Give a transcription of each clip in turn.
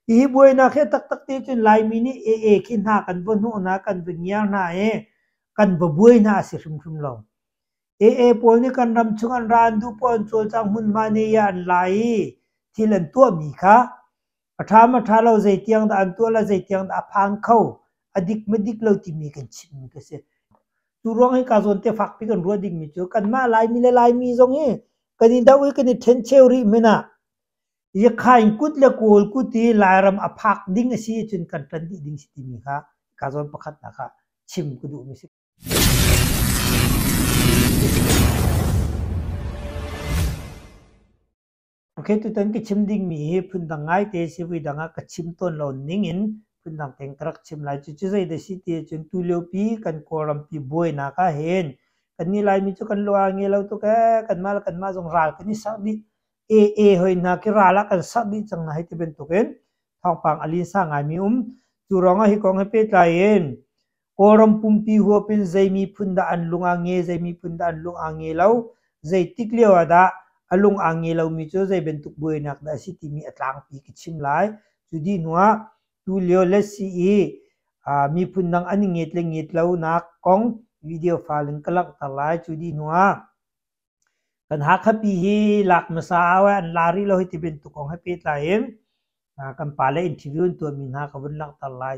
Hi buainak hi a taktak ti cun Laimi nih AA khi hna kan va hnawhnak kan va ngiar hna i kan va buai hna a si hrimhrim lo. AA pawl nih kan ram chung an ra an duh pawl an cawlcang hmunhma ne ah an la i thil an tuahmi kha A ṭha maw ṭha lo zeitiang dah an tuah le zeitiang dah a phang kho, a dik maw dik lo timi kan chimmi ka si. Cu ruang hi kaa zawn te fakpi kan ruah dingmi cu kanmah Laimi le Laimi zong hi kan i doh i kan i ṭhencheu rih min ah Iakhain kut le kawl kut hi Lairam a phak ding a si ahcun kan ṭan dih ding si timi kha kaa zawn pakhatnak ah chim ka duhmi si. Okay, tutan ka chim dingmi hi phundang ngaite si vui dang ah ka chim tawn lo ning in phundang teng ka rak chim lai. Cucu zei da si ti ahcun tu lio pi kan Kawlrampi buainak ah hin kan nih Laimi cu kan lua nge lo tuk ee kanmah le kanmah zong ral kan i sak dih AA hoi hna khi ral ah kan sak dih cang hei ti bantukin thawngpang a linsa ngaimi um. Cu ruangah hi kong he pehtlai in Kawlram pumpi huap in zei miphun dah an lung aa nge, zei miphun dah an lung aa nge lo, zeitik lio ah dah a lung aa nge lomi cu zei bantuk buainak dah a si timi a tlangpi ka chim lai. Cu dih hnu ah tulio let's see i aa miphun dang an i nget le nget lonak kong video file in ka langhter lai. Cu dih hnu ah kan Hakha pi hi lak hmasa ah weh an la rih lo hi ti bantuk kong he pehtlai in aa kan pale interview an tuahmi hna ka vun langhter lai.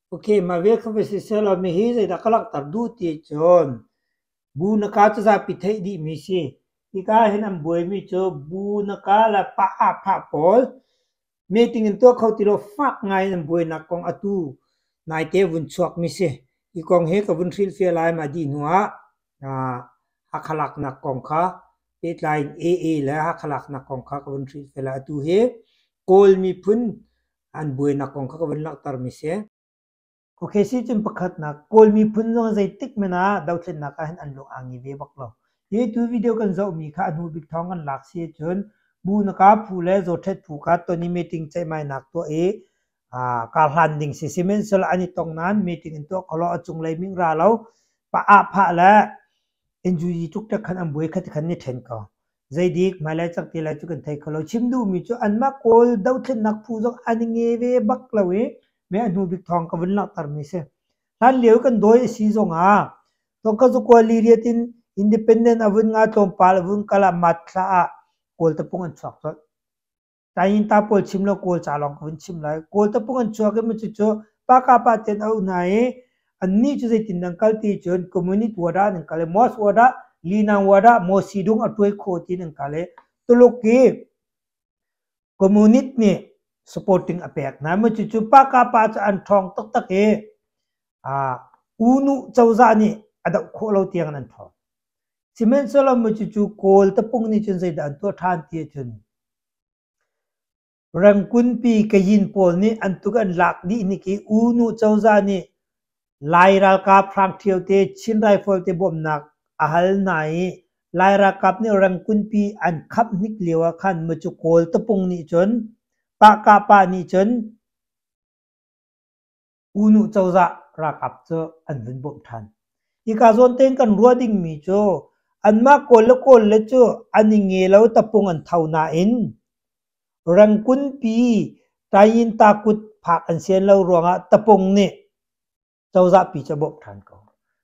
Ok, mah vial kha va si seh law mihi zeidah ka langhter duh ti ahcun bu na ka cazapi theih dihmi si. Hika ah hin an buaimi cu bu na ka le pah-a phah pawl meeting in tuah kho ti lo fak ngai in an buainak kong atu naite vun chuakmi si. Hi kong hi ka vun hrilhfiah lai mah dih hnuah ah, Hakha laknak kong kha pehtlai in AA le Hakha laknak kong kha ka vun hrilhfiah lai. Atu hi Kawl miphun An buainak kong kha ka van langhtermi si. Okesi cun pakhatnak Kawl miphun zong zeitik men ah dothlennak ah hin an lung aa ngi ve bak lo. Hi tu video kan zohmi kha a hnu bik thawng kan lak si ahcun bu naka phu le zawthet phu kha ton i meeting ceihmainak tuah i aa kaa hlan ding si sihmanhsehlaw an i tong nain meeting in tuah kho lo a cunglei ming ra lo pa-ah phah le injury tuk tek khan an buai khat khan ni tthen ko. Zeidik hmailai cak te lai cu kan thei kho lo. Chim duhmi cu anmah kawl dothlennak phu zong an i nge ve bak lo i me a hnu bik thawng ka vun langhtermi si. Hlan lio kan dawi a si zongah Tongkazukua liriat in independent a vun nga tlawmpal a vun kal ah Matthla ah Kawl tapung an chuak colh. Tain ta pawl chim lo kawl ca lawng ka hun chim lai. Kawl tapung an chuak i macu cu paka pa tein a um hna i annih cu zeitin nan kal ti cun community ward ah nan kal i mosque ward ah linang ward ah mosi dung a tuai khawh ti nan kal i Tuluk i community nih supporting a pek hna macu cu paka pa cu an ṭhawng taktak i aa unu cozah nih a doh khawh lo tiang an ṭhawng. Sihmanhsehlaw cucu Kawl tapung nih cun zeidah an tuah ṭhan ti ahcun Ramkunpi Kayin pawl nih an tuk an lak dih ni khi U Nu Cozah nih Lai ralkap hrang ṭhio te Chin raifal te bawmhnak a hal hna i Lai ralkap nih Ramkunpi an khamh hnik lio ah khan macu Kawl tapung nih cun Pahkah pa nih cun Unu cozah ralkap cu an vun bawmh ṭhan. Hika zawn tein kan ruah dingmi cu anmah kawl le kawl le cu an i nge lo tapung an tho nain Rankunpi Tainta kut phak an sian lo ruangah tapung nih cozahpi cu a bawmh ṭhan ko.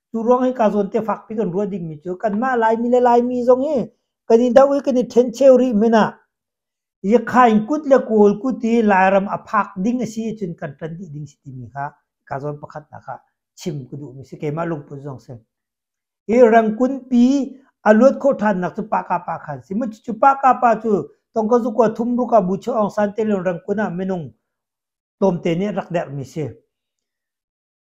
Cu ruang hika zawn te fakpi kan ruah dingmi cu kanmah Laimi le Laimi zong hi kan i doh i kan i ṭhencheu rih men ah Iakhain kut le kawl kut i Lairam a phak ding a si ahcun kan ṭan dih ding si timi kha ka zawn pakhatnak ah chim ka duhmi si. Keimah lungput zong si. I rangkunpi a luat khawh ṭhannak cu paka pa khan si. Mu cucu paka pa cu tongkazu kua thum ruka bu cheu ong san te le rangkun ah minung tlawmte nih rak derhmi si.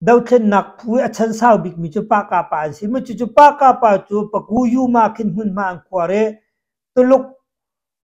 Dothlennak phu i a chan sau bikmi cu paka pa an si. Mu cucu paka pa cu Paku Yuma khin hmunhma an khuar i Tuluk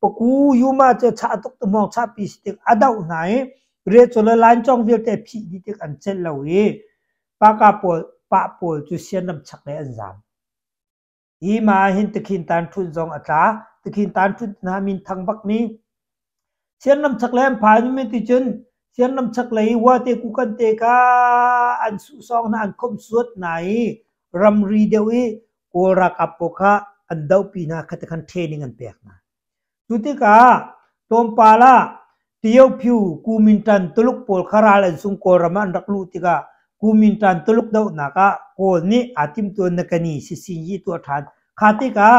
Paku Yuma cu chah tuk tu mawng chahpi si tik a doh hna i re cu le line cong vialte phih dih tik an celh lo i paka pawl pa pawl cu sianam chak le an zaam. Hi ma hin tikhin tan ṭhun zong a tla. Tikhin tan ṭhun hna min thang bak mi siannam chak le an pha ni mi ti cun siannam chak lei i wa te kukan te ka an suh song na an khom suat na i ramri deuh i Kawl ralkap pawl kha an dohpi hna kha tikhan training an pek hna. Cu tikah tlawmpal ah Tiyokpyu Kumintan Tuluk pawl kha ral an sung Kawlram ah an rak luh tikah Kumintan Tuluk dohnak ah Kawl nih aa timtuan na kani si sinyi tuah ṭhan. Kha tikah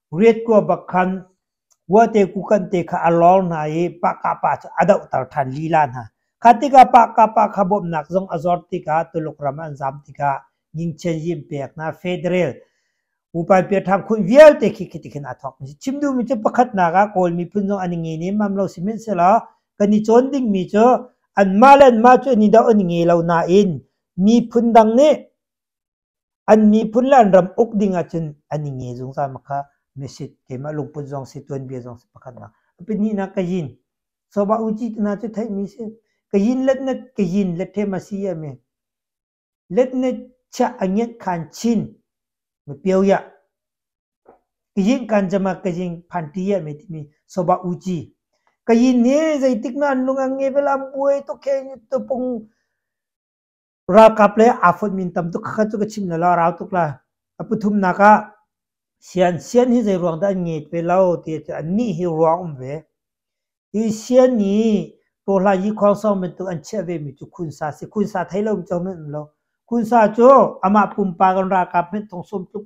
Riatkua bak khan uate kukan te kha a lor hna i Pahkapa cu a dohter ṭhan lila hna. Kha tikah Pahkapa kha bawmhnak zong a zor tikah Tuluk ram an zam tikah Ngingchen Yin pek hna federal Upai Piaṭhang khun vialte khi khi tikhin a thawk mi si. Chim duhmi cu pakhatnak ah Kawl miphun zong an i ngei nem mam lo sihmanhsehlaw kan i cawn dingmi cu anmah le anmah cu an i doh an i ngei lo nain miphun dang nih An miphun le an ram uk ding ahcun an i nge zungzal ma kha na si. Keimah lungput zong si, tuanbia zong si pakhatnak. Pahnihnak ka yin. Sawma uci tu hna cu theihmi si. Ka yin let na ka yin let them a si a mi. Let na chiah a ngiat khan chin mi pio ya. Ka yin kan jama ka yin phan ti ya mi timi sawma uci. Ka yin he zeitik nan lung an nge velam buai tu khe tu pung ralkap le aa fonh min tam tuk kha cu ka chim lo la rau tuk la a pathumnak ah sian sian hi zei ruang dah an nget ve lo ti cu annih hi ruang um ve hi sian hi rawhlai khuang song bantuk an chiah ve mi cu khunsa si khunsa thei lo mi co men lo khunsa cu amah pumpa kan ralkap hmet thong sawm tluk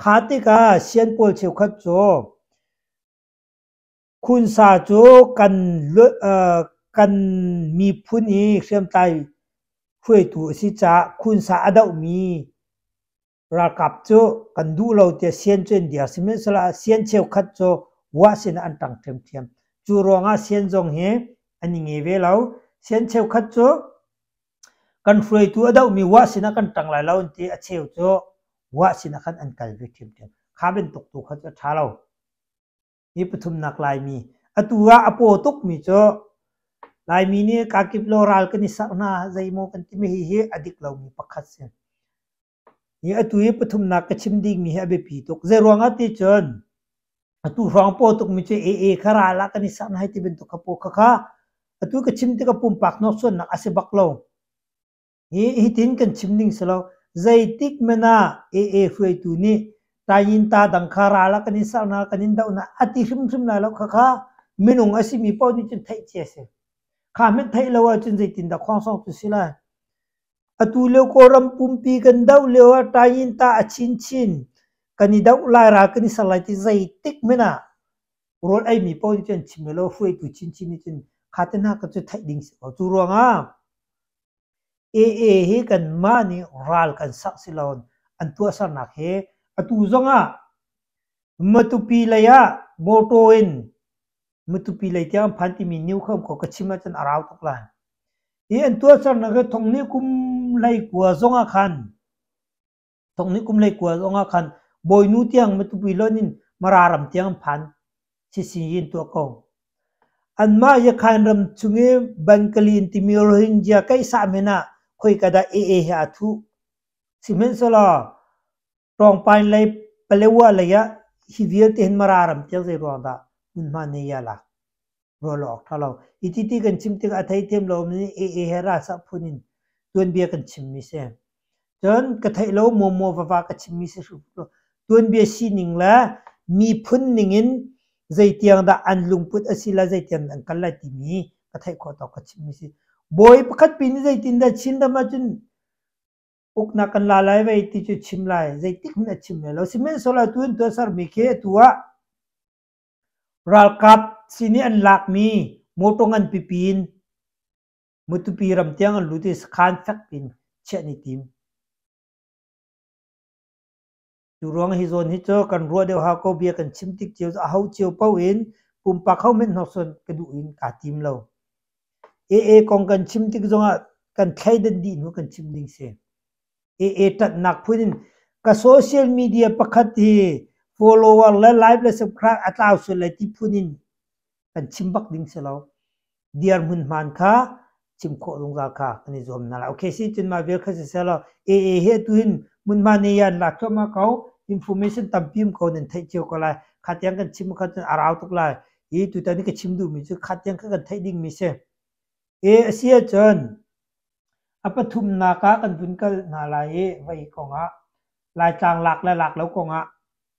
Kha tikah sianpawl cheukhat cu khunsa cu kan miphun i hriamtlai hruaitu a si caah khunsa a dohmi ralkap cu kan duh lo tiah sian cu an dir. Sihmanhsehlaw sian cheukhat cu vuah sinah an ṭang ṭhiamṭhiam. Cu ruangah sian zong hi an i nge ve lo. Sian cheukhat cu Kan hruaitu a dohmi Wah sinah kan ṭang lai lo an ti. A cheu cu Wah sinah khan an kal ve ṭhiamṭhiam. Kha bantuk tu kha cu a ṭha lo. Ni pathumnak Laimi. Atu ah a paw tukmi cu Laimi nih kakip law ral kan i sak hna, zeimaw kan timi hihi a dik lomi pakhat si. Hi atu hi pathumnak ka chim dingmi hi a biapi tuk. Zeiruangah ticun atu hrawng paw tukmi cu AA kha ral ah kan i sanh hai ti bantuk ka paw khakha atu ka chim tikah pumpak hnawhsuannak a si bak lo. Hi hitin kan chim ding si lo. Zeitik men ah AA hruaitu nih Tayinta dang kha ral ah kan in sanh hna, kan in doh hna a ti hrimhrim lai lo khakha minung a simi paoh nih cun theih cia a si. Kha men theih lo ahcun zeitindah khuangsawng cu si lai? Atu lio Kawlram pumpi kan doh lio ah Taingintah a chinchin kan i doh lai ra kan i ser lai ti zeitik hmanh ah rawl eimi paoh nih cun chim ve lo hruaitu chinchin nih cun kha te hna kan cu theih ding si ko. Cu ruangah AA hi kanmah nih ral kan sak si loin an tuahsernak hi atu zongah Matupi lei ah mawtaw in Matupi lei tiang an phan timi new khom kho ka chim ahcun a rau tuk lai. Hi an tuahsernak hi thong nih kum lei kua zong ah khan thong nih kum lei kua zong ah khan bawinu tiang Matupi loin in Mara ram tiang an phan sisi in tuah ko. Anmah Yakhain ram chung i Bankalin timi Rohingya kaih sah men ah khoi kada ee he a thu. Sihmanhsehlaw Rawngpain lei Paletwa lei ah hi vialte hin Mara ram tiang zeiruang dah hmunhma nei ah lak rual awk ṭha lo. Hiti ti kan chim tikah a thei thiam lomi AA he ralsah phun in tuanbia kan chimmi si. Cun ka theih lo mawmaw vava ka chimmi si hrim lo. Tuanbia sining le miphun ningin zeitiang dah an lungput a si le zeitiang dah an kal lai timi ka theih khawh tawk ka chimmi si. Bawi pakhat pin nih zeitin dah chim dam ahcun uknak kan la lai vei ti cu chim lai. Zeitik hin a chim lai lo. Sihmanhsehlaw atu in tuahsermi khi atu ah ralkap sin i an lakmi motor ngan pipi in Mutupi ram tiang an lut i sakhan fek in chiah ni tim. Curuang hi zawn hi cu kan ruah deuh ha ko bia kan chim tik cio a ho cio paoh in pumpak ho hmanh hnorsuan ka duh in kaa tim lo. AA kong kan chim tik zongah kan thleidan dih hnu kan chim ding si. AA ṭatnak phun in ka social media pakhat hi follower le like le subscribe a tlau sul le ti phun in kan chim bak ding si lo dirhmun hmaan kha chim khawh zungzal kha kan i zuam hna lai okay si cun mah vial kha siseh law AA he tu hin hmunhma ne yan la kha ma ko information tampim ko nan theih cio ko lai kha tiang kan chim kha cun arau tuk lai i tu tan ka chim du mi chu kha tiang kha kan theih ding mi si e a si cun a pathum na ka kan vun kal hna lai i vai kong ah lai tlang lak le lak lo kong ah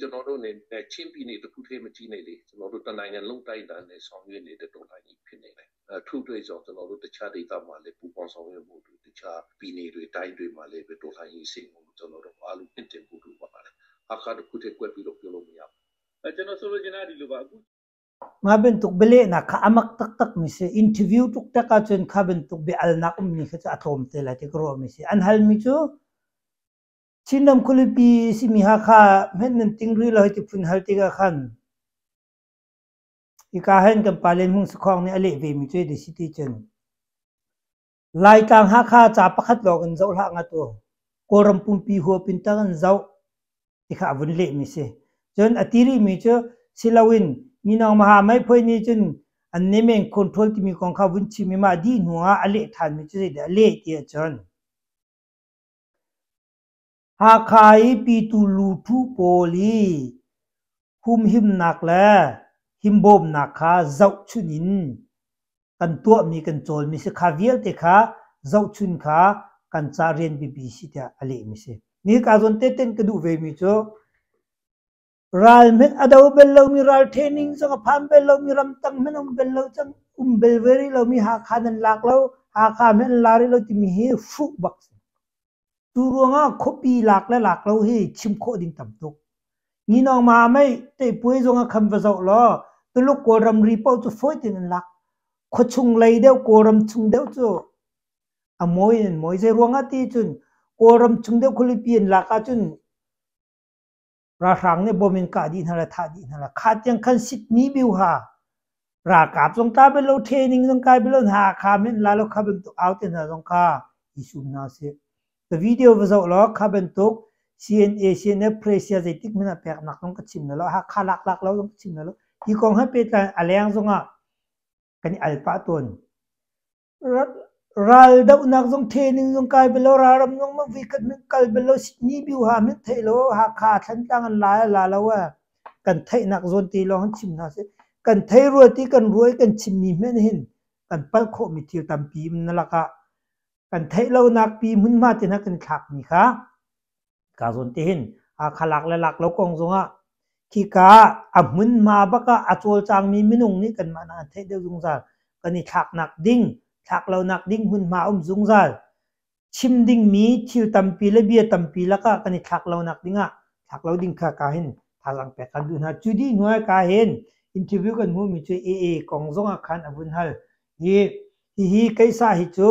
General ne ne champion ni to phu the ma chi ne li general to tanai ngan lung tai da ne song yu ne de to lai ni phin ne le thu to zo general to cha de ta ma le pu kong song yu bu tu to cha pi ne to tai to ma le be to lai ni sing general alu phin te bu tu ba le haka to phu the kwe pi lo pi lo ya general suru jina di lu ba gu nga ben tuk bele na kha amak tak tak mi se interview tuk tak a chun kha ben tuk be alnak um ni kha cha athom te la ti kro mi se an hal mi chu Chinram khualipi simi Hakha hmenh nan ting rih lo hei ti phun hal tikah khan hika hen kan pa Len Hmung Sakhawng nih a leh vemi cu hiti si ti cun Laitlang Hakha ca pakhat lawng in zoh hlah nga tu Kawlram pumpi hua pintak in zoh ti kha a vun lehmi si cun a ti rihmi cu siloin minong maha meiphoi nih cun an nemeng control timi kong kha vun chim i mah dih hnuah a leh thanmi cu zeidah a leh ti ahcun Hakha i pitu luthu pawl i humhimnak le himbawmnak kha zohchunh in kan tuahmi kan cawlmi si. Kha vialte kha zohchunh kha kan ca rian pipi si tiah a lehmi si. Ni ka zawn teten ka duh vemi cu Ral hmet a do bel lomi ralṭhe ning zong a phan bel lomi ramtang hmanh um bel lo cang um bel ve rih lomi Hakha nan lak lo Hakha hmanh an la rih lo timi hi hruh bak si. Cu ruangah khuapi lak le lak lo hi chim khawh ding tam tuk. Nginawng ma mei te puai zong a kham va zoh law Tuluk Kawlram ripo cu fawi tein an lak. Khuachung lei deuh Kawlram chung deuh cu a mawi in mawi zei ruangah ti cun Kawlram chung deuh khulipi an lak ahcun ralhrang nih bom in kah dih hna le thah dih hna le kha tiang khan Sydney Bioha ralkap zong ta bel lo training zong kai bel lo hna kha men la lo kha bantuk autte hna zong kha i sum hna si the video va zoh lo kha bantuk CNA CNF Pressure zeitik men a pek nak zong ka chim lo ha kha lak lak lo zong ka chim lo hi kong ha pe tla aleng zong ah kan i alpa ton Ral dohnak zong the ning zong kai bal law, ralram zong mah voikhat min kal bal law Sydney Bioha min theih law Hakha, Thantlang an lai la lo ee. Kan theihnak zawn te lawng hin chim hna seh. Kan thei ruat i kan ruai kan chimmi hmenh hin kan palh khawhmi thil tampi na lakah kan theih lonak pi hmunhma te na kan i thlakmi kha kaa zawn ti hin Hakha lak le lak lo kong zongah khika ah a hmunhma bak ah a cawlcangmi minung nih kanmah nak an theih deuh zungzal kan i thlaknak ding thlak lonak ding hmunhma um zungzal chim dingmi thil tampi le bia tampi lakah kan i thlak lonak dingah thlak lo ding kha ka hin thazang pek kan duh hna cu di nuai ka hin interview kan hmuhmi cu AA kong zongah khan a vun hal hi hihi keisa hi cu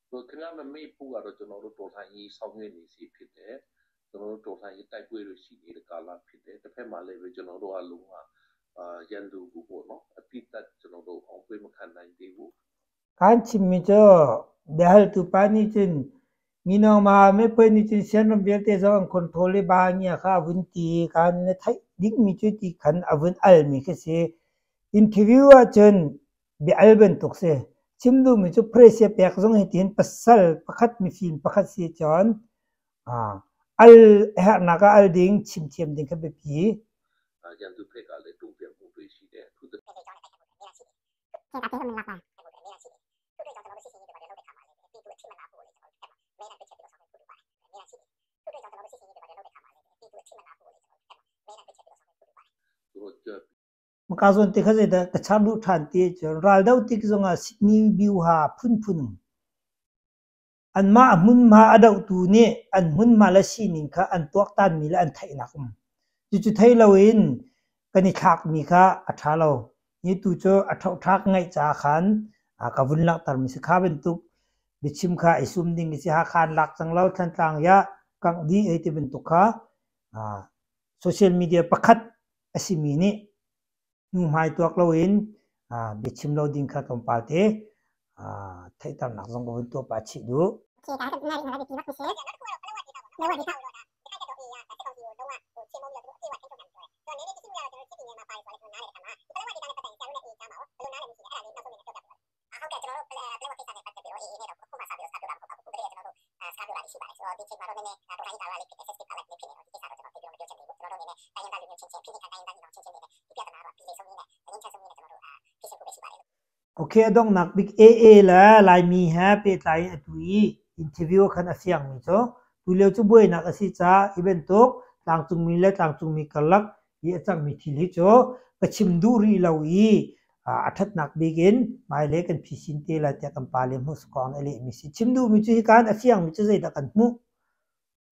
So thinglam na mei pu aro tu no to lai hi sau nge ni si phit e tu no to lai hi tai pui ro si ni ka la phit e te phe ma le ve jono ro alung a yandu gu bo no a pi tat jono ro ong pui ma khan nai de bu kan chim mi cho behal tu pa ni chin ngino ma me poi ni chin sian ram vel te zo an control le ba ngia kha vun ti kan ne thai ding mi chu ti khan avun al mi khi si interview a chun bia al bantuk si. Chim duhmi cu praise pek zong hi tihin pasal pakhat mifim pakhat si cun ah, al herhnak ah al ding chimthiam ding kha biapi. Ah, Jiang tu phek ah le tung pian hmu pe si de thu de tu ro Maka zawn ti kha zeidah ka char duh ṭhan ti ahcun ral do tik zongah Sydney Beuha phunphun anmah hmunhma a dohtu nih an hmunhma le sining kha an tuaktanmi le an theihnak um. Cucu thei loin kan i thlakmi kha a ṭha lo. Hi tu cu a ṭhoṭhak ngeih caah khan ka vun langhtermi si kha bantuk biachim kha i sum ding i si ha khan lak cang lo Thlantlang ya kangh dih hei ti bantuk kha social media pakhat a simi nih nuhmai tuak loin biachim lo ding kha kan pate theihternak zong ka vun tuah pa chih duh. Okay, adonghnak bik AA le Laimi he pehtlai in atu i interview khan a siang mi cu tulio cu buainak a si caah hi bantuk tlangcungmi le tlangcungmi karlak hi a cangmi thil hi cu ka chim duh rih lo i a ṭhatnak bik in hmailei kan phisin te lai tiah kan pale hmuhsakong a lehmi si. Chim duhmi cu hikaan a fiangmi cu zeidah kan hmuh?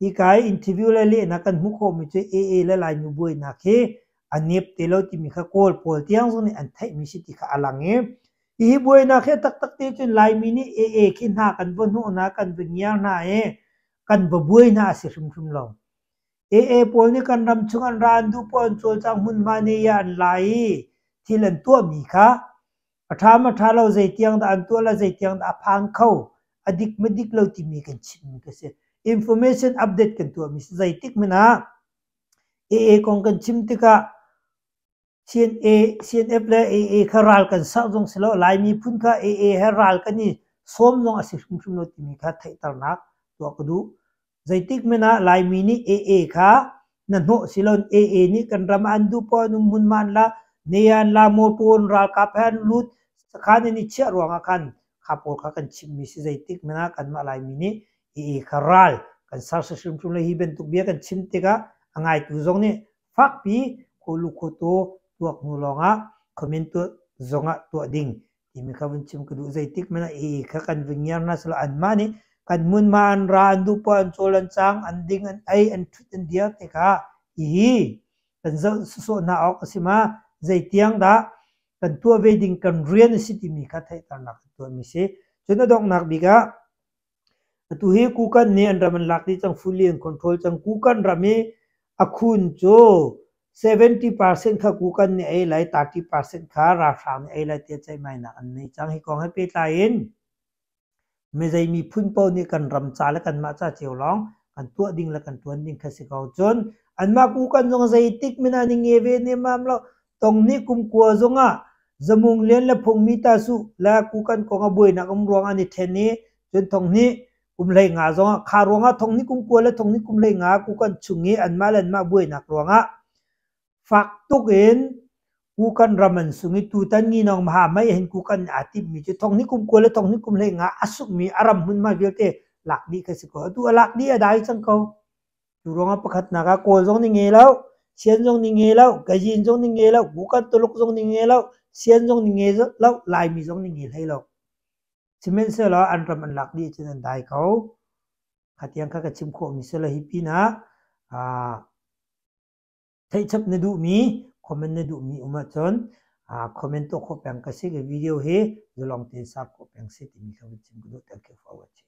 Hika i interview le lehnak kan hmuh khawhmi cu AA le Lainu buainak hi a nep te lo timi kha Kawl pawl tiang zong nih an theihmi si ti kha a lang i hihi buainak hi taktak te cun Laimi nih AA khi hna kan va hnawh hna, kan va ngiar hna i kan va buai hna a si hrimhrim lo. Aa pawl nih kan ram chung an ra, an duh paoh an cawlcang hmunhma nei ah an la i thil an tuahmi kha a ṭham a ṭha lo, zeitiang dah an tuah le zeitiang dah a phang kho, a dik maw dik lo timi kan chimmi ka si. Information update kan tuahmi si. Zeitik hmanh ah AA kong kan chim tikah CNF le AA kha ral kan serh zong si lo, Laimi phun kha AA he ral kan i sawm zong a si hrimhrim lo timi kha theihternak tuah ka duh. Zeitik men ah Laimi nih AA kha na hnawh si lo, AA nih kan ram ah an duh poah an um hmunman la, Neyan la, Mawtawn ralkap he an lut, sakhan in i chiah ruangah khan kha pawl kha kan chimmi si zeitik men ah kanmah Laimi nih AA kha ral kan ser si hrimhrim lo. Hi bantuk bia kan chim tikah a ngaitu zong nih Fakpi khawlukhuatu tuak hnu lawngah comment zongah tuah ding timi kha vun chim ka duh. Zeitik hmanh ah hi kha kan vun ngiar hna selaw anmah nih kan hmunhma an ra, an dupa an cawl an cang, an ding an ei an ṭhut an dir te kha hihi kan zoh sawsawh hna awk a si ma? Zeitiang dah kan tuah ve ding kan rian a si timi kha theihternak kan tuahmi si. Cun a donghnak bik ah Atu hi Kukan nih an ram an lak dih cang, fuhli an control cang. Kukan ram i a khun cu seventy percent kha Kukan nih a ei lai, thirty percent kha ralhrang nih ei lai tiah ceihmainak an nei cang. Hi kong he pehtlai in mizei miphun paoh nih kan ram ca le kanmah ca cio lawng kan tuah ding le kan tuan ding kha si ko. Cun anmah Kukan zong zeitik men ah an i nge ve nemmam lo. Tong nih kumkua zong ah zamung len le phungmi ta suh la ku kan kong a buainak um ruang an i ṭhen i cun thong nih kum hlei nga zong ah kha ruangah thong nih kumkua le thong nih kum hlei nga ku kan chung i anmah le anmah buainak ruangah fak tuk in ku kan ram an sung i tutan nginawng maha mei hin ku kan aa timmi cu thong nih kumkua le thong nih kum hlei nga a sungmi a ram hmunhma vialte lak dih kha si ko atu a lak dih a dai cang ko. Cu ruangah pakhatnak ah kawl zong ni nge lo, sian zong ni nge lo, gazin zong ni nge lo, bukat tuluk zong ni nge lo, sian zong ni nge lo, laimi zong ni nge hlei lo. Sihmanhsehlaw an ram an lak dih cun an dai ko. Khatiang kha ka chim khawhmi si lo hi pinah aa theihchap na duhmi, comment na duhmi um ahcun aa comment tuah khawh peng ka si. Ka video hi zalong tein saak khawh peng si timi kha ka chim ka duh. Thank you for watching.